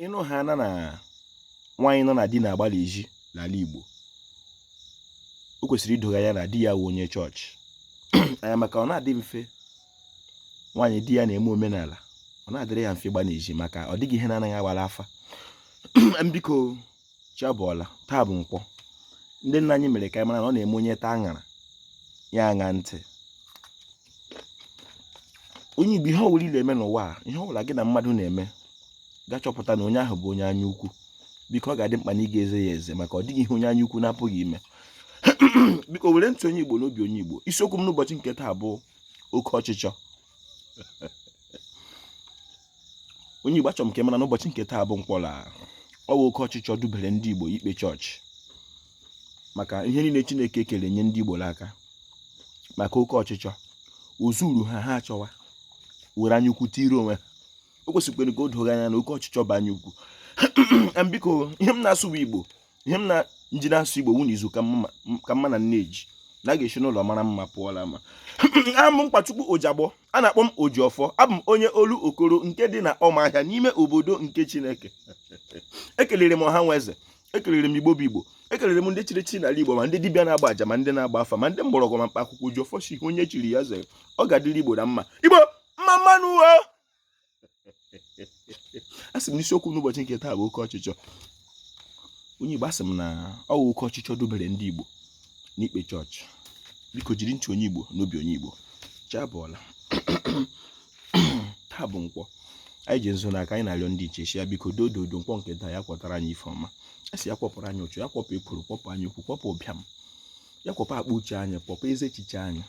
ịnụ ha na na nwaanyị nọ na di na-agba n'ezi n'ala Igbo o kwesịrị ido gị anya na di ya wụ onye chọọchị anya maka ọ na-adị mfe nwaanyị di ya na-eme omenala ọ na-adịrị ya mfe ịgba n'ezi maka ọ dịghị ihe na-anaghị agba n'afa biko chi abọọla taa bụ nkwọ ndị nna anyị mere ka anyị mara na ọ na-eme onye taa aṅara ya aṅa ntị onye igbo ihe ọwụla ị na-eme n'ụwa a ihe ọwụla gị na mmadụ na-eme gị achọpụta na onye ahụ bụ onye anya ukwu biko ọ ga-adị mkpa na ị ga-eze ya eze maka ọ dịghị ihe onye anya ukwu na-apụghị ime biko were ntị onye igbo n'obi onye igbo isiokwu m n'ụbọchị nke taa bụ oke ọchịchọ onye Igbo achọrọ m ka ị mara n'ụbọchị nke taa bụ nkwọ na ọ bụ oke ọchịchọ dubere ndị Igbo ikpe chọọchị maka ihe niile Chineke kere nye ndị Igbo n'aka maka oke ọchịchọ o zuru ha ha achọwa were anya ukwu tiri onwe ha o kwesịkwere ka o doo gị anya na oke ọchịchọ bụ anya ukwu biko ihe m na-asụ bụ Igbo ihe m na nji na-asụ igbo wụ na izu ka mma na nne ji na a ga-esi n'ụlọ mara mma pụọ n'ama abụ m Mkpachukwu Ojagbọ a na-akpọ m Ojiọfọ abụ m onye Olokoro nke dị na Ụmụahịa n'ime obodo nke Chineke ekelere m ọha na eze ekelere m igbo bụ igbo ekelere m ndị chiri chi n'ala igbo ma ndị dibịa na-agba aja ma ndị na-agba afa ma ndị mgbọrọgwụ ma mkpa akwụkwọ Ojiọfọ sị onye chiri ya zere ọ ga-adịrị igbo na mma igbo mma mma nụ asị m na isiokwu n'ụbọchị nke taa bụ oke ọchịchọ onye Igbo asị m na ọ bụ oke ọchịchọ dubere ndị Igbo n'ikpe chọọchị biko jiri ntị onye Igbo n'obi onye Igbo chi abọọla taa bụ nkwọ anyị ji nzu n'aka anyị na-arịọ ndị ichie biko doo dodo nkwọ nke taa ya kwọtara anyị ife ọma a sị ya kwọpụrụ anyị ụchụ ya kwọpụ ekworo kwọpụ anya ukwu kwọpụ ụbịam ya kwọpụ akpa uche anyị kwọpụ ezi echiche anyị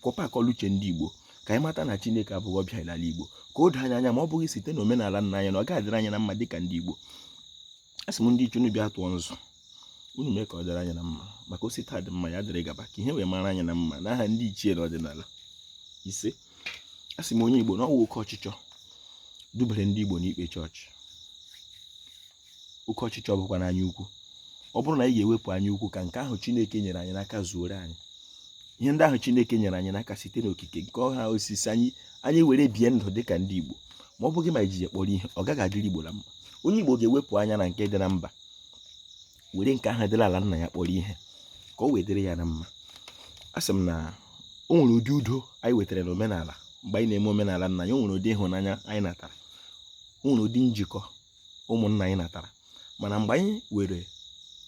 kwọpụ akọ na uche ndị Igbo ka anyị mata na Chineke abụghị ọbịa n'ala Igbo ka o doo anyị anya ma ọ bụghị site na omenala nna anyị na ọ ga-adịrị anyị na mma dịka ndị Igbo asị m ndị ichie unu bịa tụọ nzu unu mee ka ọ dịrị anyị na mma maka o si taa dị mma ya dịrị gaba ka ihe wee mara anyị na mma n'aha ndị ichie na ọdịnala isee asị m onye Igbo na ọ wụ oke ọchịchọ dubere ndị Igbo n'ikpe chọọchị oke ọchịchọ bụkwanụ anya ukwu ọ bụrụ na anyị ga-ewepụ anya ukwu ka nke ahụ chineke nyere anyị n'aka zuoro anyị ihe ndị ahụ chineke nyere anyị n'aka site n'okike nke ọha osisi anyị anyị were bie ndụ dị ka ndị igbo ma ọ bụghị ma iji ya kpọrọ ihe ọ gaghị adịrị igbo na mma onye igbo ga-ewepụ anya na nke dị na mba were nke ahụ dị n'ala nna ya kpọrọ ihe ka o wee dịrị ya na mma asị m na o nwere ụdị udo anyị nwetara na omenala mgbe anyị na-eme omenala nna anyị o nwere ụdị ịhụnanya anyị natara o nwere ụdị njikọ ụmụnna anyị natara mana mgbe anyị were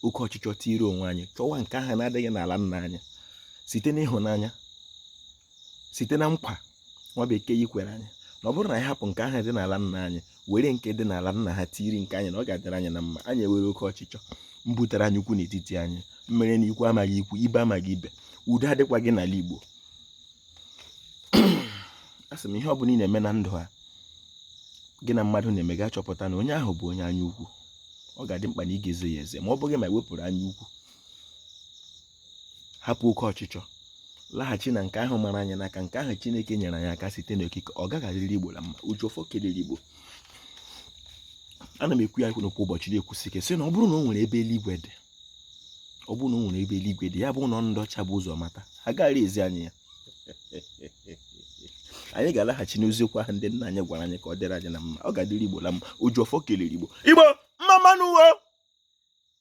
oke ọchịchọ tiiri onwe anyị chọwa nke ahụ na-adịghị n'ala nna anyị site n'ịhụnanya site na nkwa nwa bekee kwere anyị na ọ bụrụ na anyị hapụ nke ahụ dị n'ala nna anyị were nke dị n'ala nna ha tiiri nke anyị na ọ ga-adịrị anyị na mma anyị ewere oke ọchịchọ mbutere anya ukwu n'etiti anyị mere na ikwu amaghị ikwu ibe amaghị ibe udo adịkwaghị n'ala Igbo asị m ihe ọ bụla ị na-eme na ndụ a gị na mmadụ na-eme gị achọpụta na onye ahụ bụ onye anya ukwu ọ ga-adị mkpa na ị ga-eze ya eze ma ọ bụghị ma e wepụrụ anya ukwu hapụ oke ọchịchọ laghachi na nke ahụ mara anyị n'aka nke ahụ chineke nyere anyị aka site n'okike ọ gaghị adịrị igbo na mma ojiọfọ kelere igbo ana m ekwu ya ekwu kwa ụbọchị na-ekwusi ike sị na ọ bụrụ na o nwere ebe eluigwe dị ọ bụrụ na o nwere ebe eluigwe dị ya bụ na ndị ọcha bu ụzọ mata ha gaara ezi anyị ya anyị ga-alaghachi n'eziokwu ahụ ndị nna anyị gwara anyị ka ọ dịrị anyị na mma ọ ga-adịrị igbo na mma ojiọfọ kelere igbo igbo mma mma nụ o